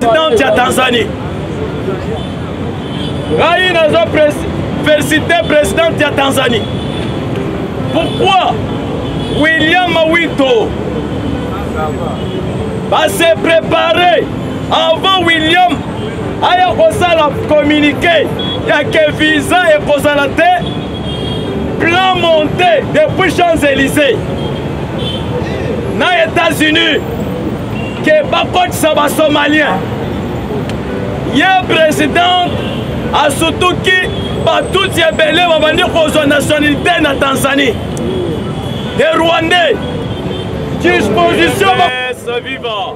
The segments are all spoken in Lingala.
présidente ya tanzanie ngai naza félicité présidente ya tanzanie pourquoi william mawito base prépare avant william aya kosala communiqué ya ke visa ekozala te plan monté depuis champs élysées na états-unis ke bakotisa basomalien ye président asutuki batuti ebele babandi kozwa nationalité na tanzanie e rwandais disposition eh, viva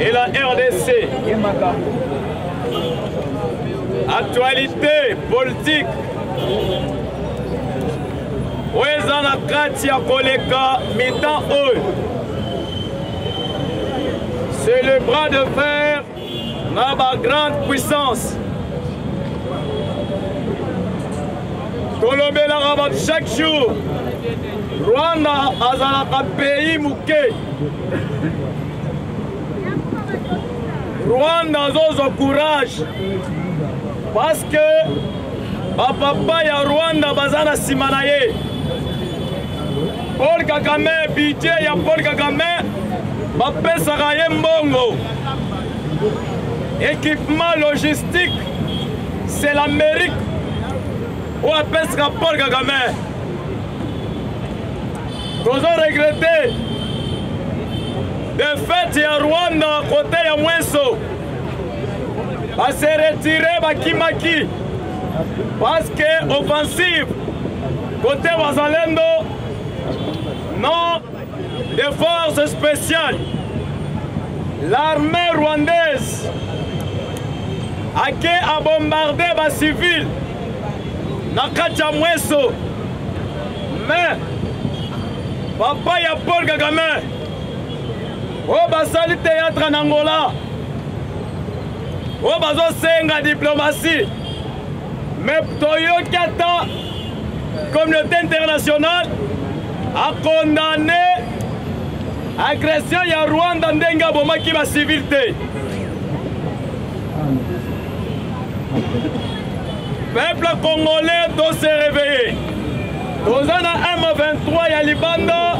et la RDC. Actualité politique. oyo eza na kati ya koleka mitan oyo c'est le bras de fer na ba grande puissance tolobelaka bato chaque jour rwanda azalaka pays moke rwanda azozwa courage parce que bapapa ya rwanda baza na nsima na ye Paul Kagame budget ya Paul Kagame bapesaka ye mbongo équipement logistique c'est l'Amérique oyo apesaka Paul Kagame tozo regrete defete ya Rwanda kote ya mwenso base retire bakimaki parce que offensive Côté Wazalendo, non des forces spéciales, l'armée rwandaise a qui a bombardé les civils na kati ya mweso mais papa ya paul kagame oyo basali théâtre na angola oyo bazosenga diplomatie mais toyoki ata Communauté internationale a condamné agression ya Rwanda ndenge abomaki ba civil te. Peuple congolais doit se réveiller. toza na m23 ya libanda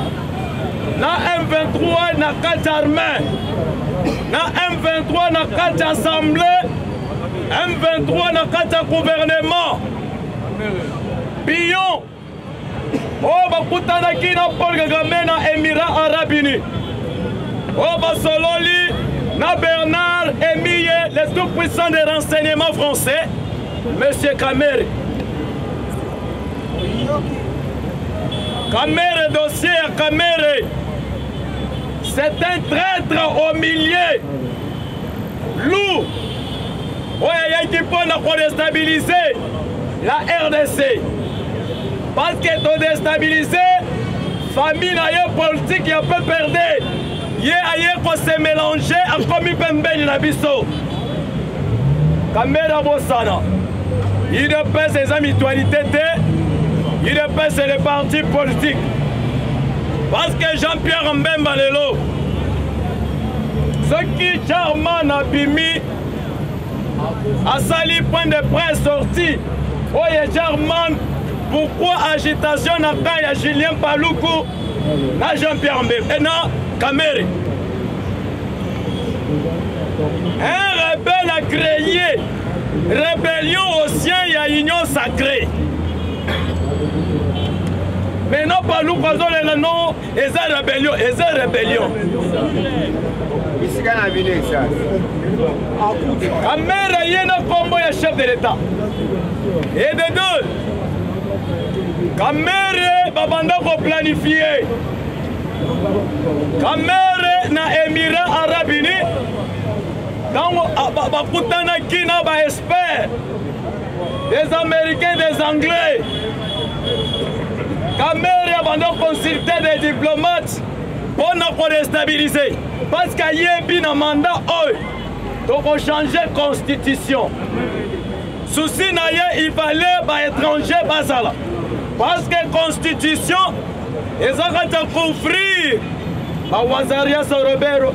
na m23 na kati ya armée na m23 na kati ya assemblée m23 na kati ya gouvernement pion oyo bakutanaki na paul kagame na émirat arabe uni oyo basololi na bernard emiye le tout puissant de renseignement français monsieur kamere kamere dossier ya kamere c'est un traître au milieu Lourd oyo ayaki mpo na kodestabilize la rdc parceke todestabilize famille na ye politike ya pprd ye aye kose melange akomi pembeni na biso kambera bosana udps eza mutualité te udps le parti politique parce que jean pierre mbemba lelo soki charman abimi asali point de presse sorti oyo charman pourquoi agitation na camp ya julien paluku na jean pierre mbebe eh, na kamere un rebelle a créé rébellion au sien ya union sacrée maintenant paluku azolela no eza rebellion eza rebellion bisika na bino eza amere ye na nkombo ya chef de l'etat et de deux kamere babanda koplanifie kamere na émirat arabe uni ntango bakutanaki na baespere Des Américains, des Anglais. Kamerhe abanda consulter des diplomates mpo na kodestabilize parce que ayebi na manda oyo tokochange constitution susi na ye il fallait baétranger bazala parce que constitution eza kati ya couvrir bawazarias robero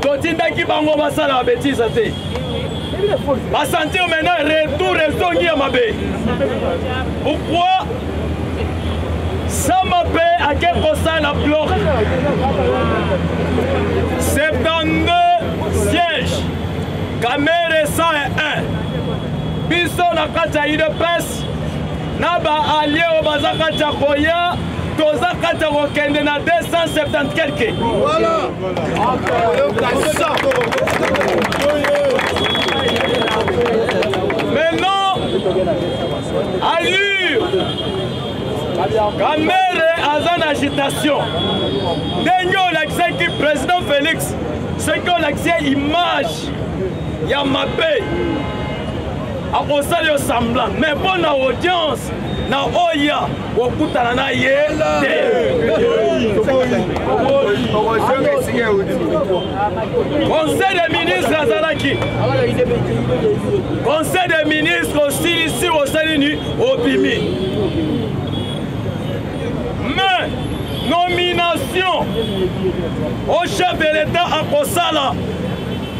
totindaki bango basala babetiza te basentir maintenant retour ezongi ya mabe pourquoi sama mpe ake kosala bloc 72 siège kamere 101 biso na kati ya udps na ba alliés oyo baza kati ya koya toza kati ya kokende na 270 quelque voilà. maintenant allure kamere aza na agitation ndenge olakisaki président félix soki olakisi image ya mabe akosala yo semblant mais mpo na audience na oya kokutana na ye te conseil des ministres azalaki conseil des ministres osilisi osali nini obimi mais nomination au chef de l'état akosala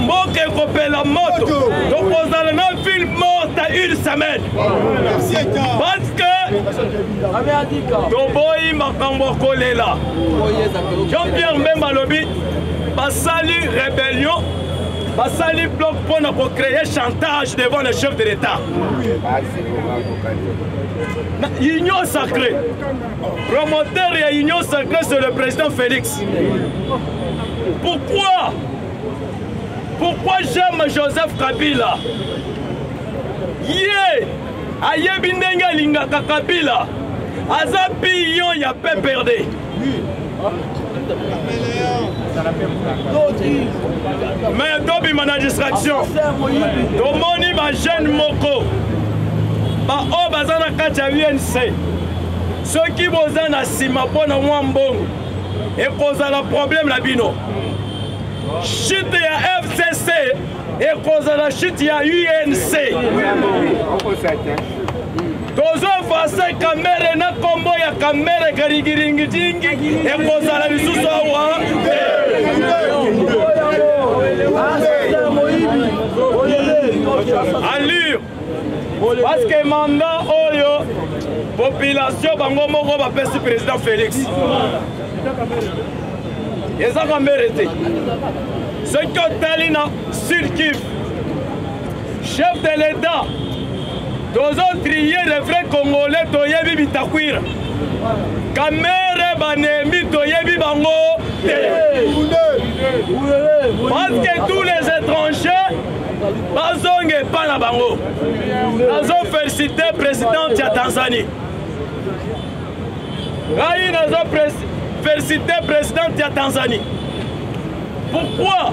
mboka ekopela moto tokozala na ville morte à une semaine parce que toboyi makambo ya kolela jean pierre mbemba alobi basali rébellion basali bloc mpo na kocreye chantage devant le chef de l'état union sacré Promoteur ya Union Sacrée, c'est le président Félix. Pourquoi Pourquoi j'aime Joseph Kabila Ye ayebi ndenge alingaka Kabila aza pion ya PPRD. mais tobima na distraction tomoni bajeune moko baoyo baza na kati ya unc soki boza na nsima mpo na mwa mbongo ekozala problème na bino chute ya fcc ekozala chute ya unc tozo efase kamere na kombo ya kamere karigiringijingi ekozala lisusu awa alire parceke manda oyo population bango moko bapesi président félix eza kamere te soki otali na sud kiv chef de l'état tozo trier le vrai congolais toyebi bitakwira kamere banemi toyebi bango te parce que tous les étrangers bazonga epa na bango nazo félicité présidente ya tanzanie ngai nazo félicité présidente ya tanzanie pourquoi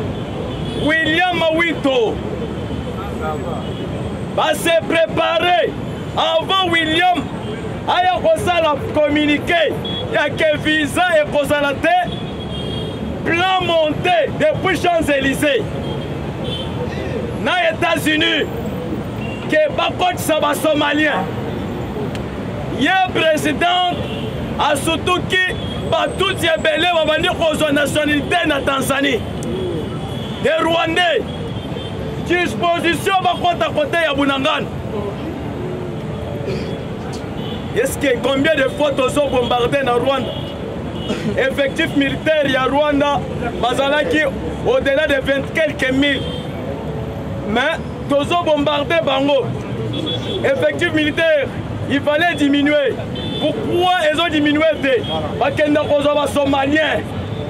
william wito ba se préparer avant William aya kosala communiqué ya ke visa ekozala te plan monté depuis Champs-Élysées na États-Unis ke bakotisa ba Somaliens ye président asutuki batuti ebele babandi kozwa nationalité na Tanzanie des Rwandais disposition bakota kote ya bunangana eske combien de fois tozobombarde na rwanda effectif militaire ya rwanda bazalaki au-delà de 20 quelques mille mais tozobombarde bango effectif militaire il fallait diminuer pourquoi ezodiminue te bakenda kozwa basomalien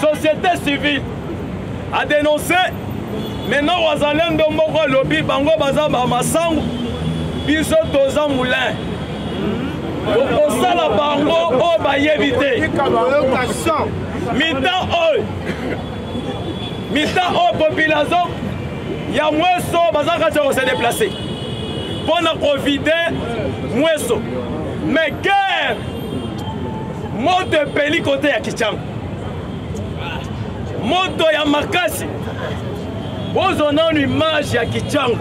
société civile a dénoncé maintenant wazalendo moko alobi bango baza bamasangu biso toza moulin okosala bango oyo bayebi te mita oyo mita oyo population ya mweso baza kati ya kose deplace mpo na kovide mweso mais guerre moto epeli kote ya kichanga moto ya makasi bozwa nanu image ya kichangu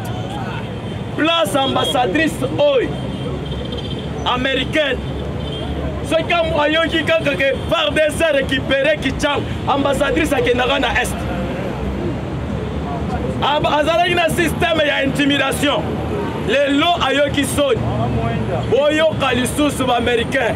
place ambassadrice oyo américaine soki ayoki kaka ke fardes récupéré kichangu ambassadrice akendaka na est azalaki na systeme ya intimidation lelo ayoki soni boyoka lisusu baaméricain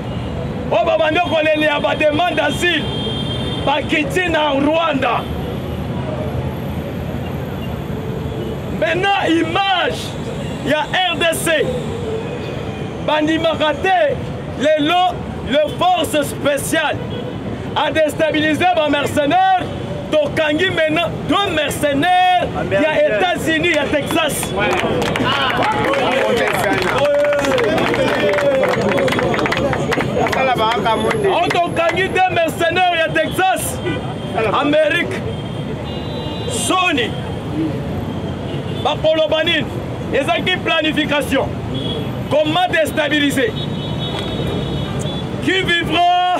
oyo babandi kolelea bademande asile bakiti na rwanda maintenant image ya rdc bandimaka te lelo le force spéciale adestabilise bamercenaire tokangi maintenant deux mercenaires ya états-unis ya texas tokangi deux mercenaires ya texas amérique soni bakoloba nini ezalaki planification comment déstabiliser qui vivra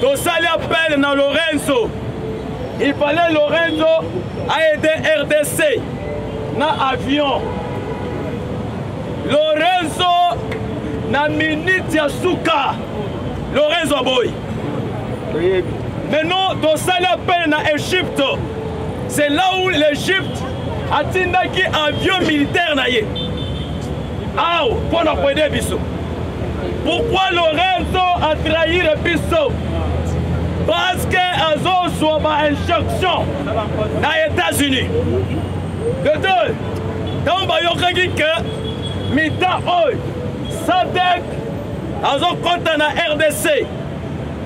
tosali appel na lorenzo il fallait lorenzo aide rdc na avion lorenzo na minute ya suka lorenzo aboyi maintenant tosali appel na egypte c'est là où l'egypte atindaki avion militaire na ye Aw mpo na koede biso. Pourquoi Lorenzo a trahir biso? Parce que azozwa ba injection na États-Unis. De deux, ntango bayokaki ke mita oyo sadek azokɔta na rdc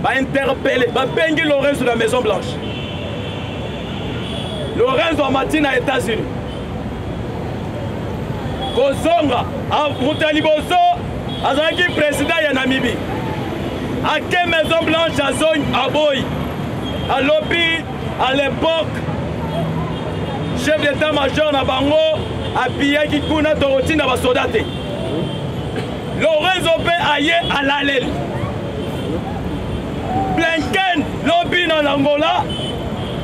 bainterpele babengi lorenzo na maison blanche lorenzo amati na états-unis kozonga moto ya liboso azalaki president ya namibi ake maison blanche azongi aboyi alobi à l'époque chef d'état major na bango apiyaki kuna tokotinda basoda te lorenzo mpe aye alaleli blinken lobi na angola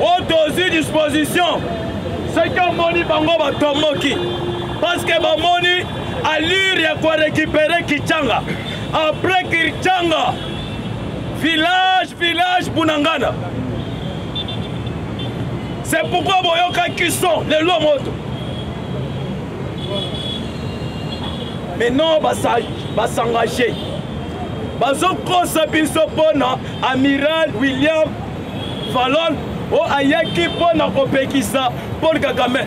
oyo tozwi disposition soki omoni bango batomboki parceke bamoni allure ya korekipere kichanga apres kichanga village village bunangana c'est pourquoi boyokaki son lelo moto mais non basangage bazokosa biso mpo na amiral william Falon o ayaki mpo na kopekisa Paul Kagame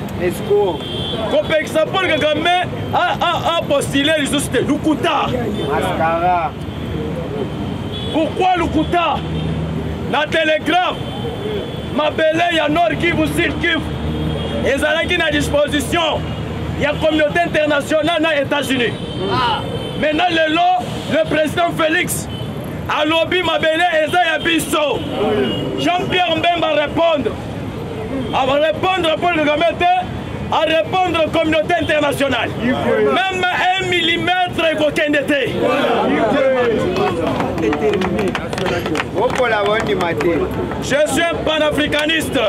kopekisa Paul Kagame apostile lisusu te lukuta pourquoi lukuta na telegram mabele ya nord kivu sud kivu ezalaki na disposition ya communauté internationale na états-unis ah. maintenant lelo le président félix alobi mabele eza ya biso jean pierre mbemba arépondre arépondre paul kagame te arépondre communauté internationale même un millimètre ekokende te je suis un panafricaniste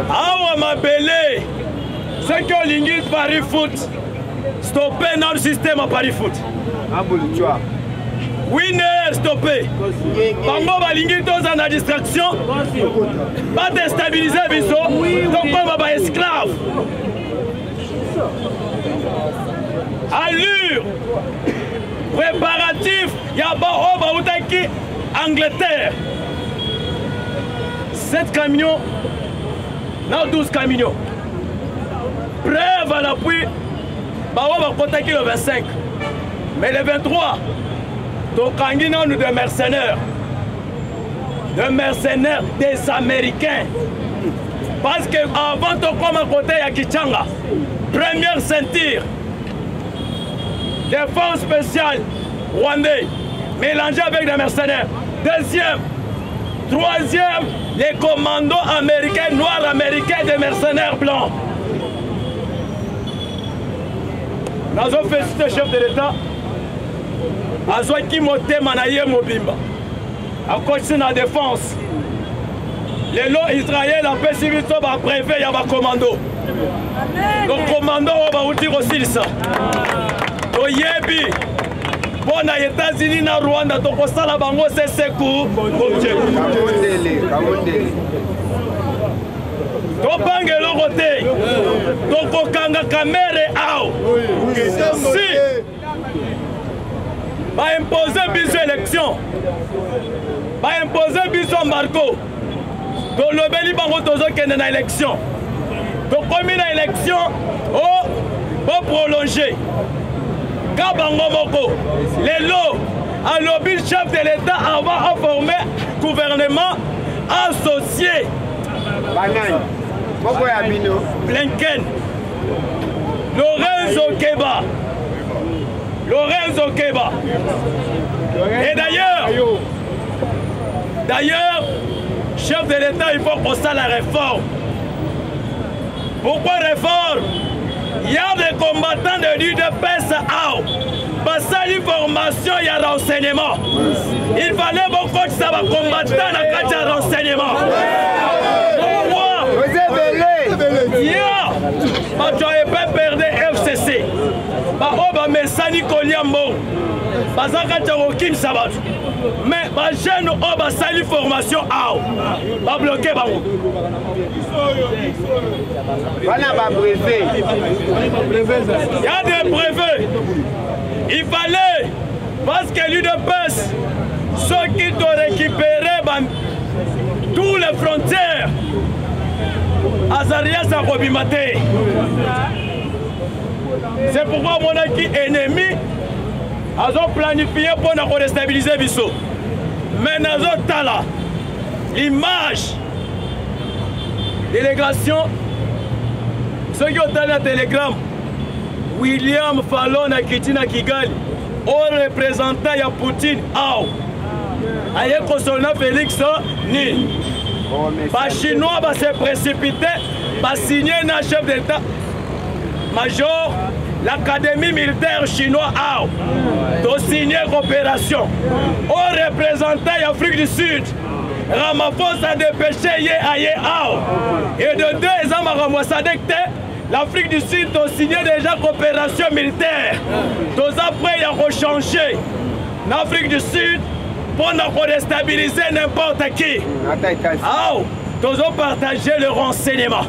awa mabele soki olingi paris foot Stoppez notre système à Paris Foot. Abolitoire. winner stoppe bango balingi toza na distraction badestabilize biso tokoma baesclave allure préparatif ya baoyo oh, bautaki angleterre 7 camions na 12 camions Preuve à l'appui, bango bakotaki le 25 mais le 23 tokangi nanu de mercenaires de mercenaires des américains parce que avant tokoma kote ya kichanga première ceinture défense spéciale rwandais mélangé avec des mercenaires deuxième troisième Les commandos américains, noirs américains, des mercenaires blancs. nazo félicité chef de l'état azwaki motema na ye mobimba akotisi na défense lelo israel apesi biso bapreve ya bakomando bakomando oyo bauti kosilisa toyebi mpo na etats-unis na rwanda tokosala bango seseku tobanga eloko te tokokanga kamere ao si baimpose biso élection baimpose biso marco tolobeli bango tozokende na élection tokomi na élection o oh, boprolonge ka bango moko lelo alobi chef de l'état avant aforme gouvernement associé banani moko ya bino blinken lorenzo keba lorenzo keba et d'ailleurs D'ailleurs, chef de l'État, il faut qu'on ça la réforme. Pourquoi réforme Il y a des combattants de l'UDPS à basali formation ya renseignement il fallait bokotisa bacombattant na kati ya renseignement bato ya epperde fcc baoyo bamesani kolia mbongo baza kati ya kokimisa bato mais bajeune oyo basali formation awa babloke bango wana babreve ya de breve il fallait parce que l'udps soki to récupérer ba tous les frontières azarias akobima te c'est pourquoi omonaki ennemi azo planifie mpo na korestabilize biso me nazotala l'image délégation soki otali na telegramme william falon akiti na kigali o representant ya poutine awa aye kosolo na félix nini bachinois base précipite basigne na chef d'état Major, l'Académie militaire chinoise a to signé coopération au représentant d'Afrique du Sud. Ramaphosa dépêché ye aye ao et de deux eza makambo ya sadek te l'afrique du sud tosigne déjà coopération militaire toza près ya kochanger na afrique du sud mpo na kodestabilise n'importe qui ao tozopartage le renseignement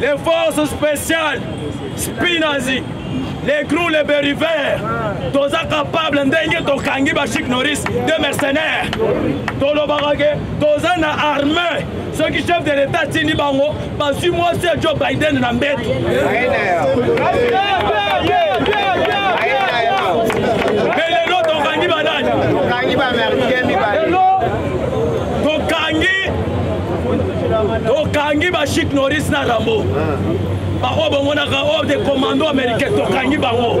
les forces spéciales spinazi les grou les beriver toza capable ndenge tokangi bachik noris de mercenaire tolobaka ke toza na armée soki chef de l'état atindi bango bazwi mwasi ya joe biden na mbeto mpe lelo tokangi banani tokangi ba chic noris na rambo baoyo bangonaka oyo de commando américain tokangi bango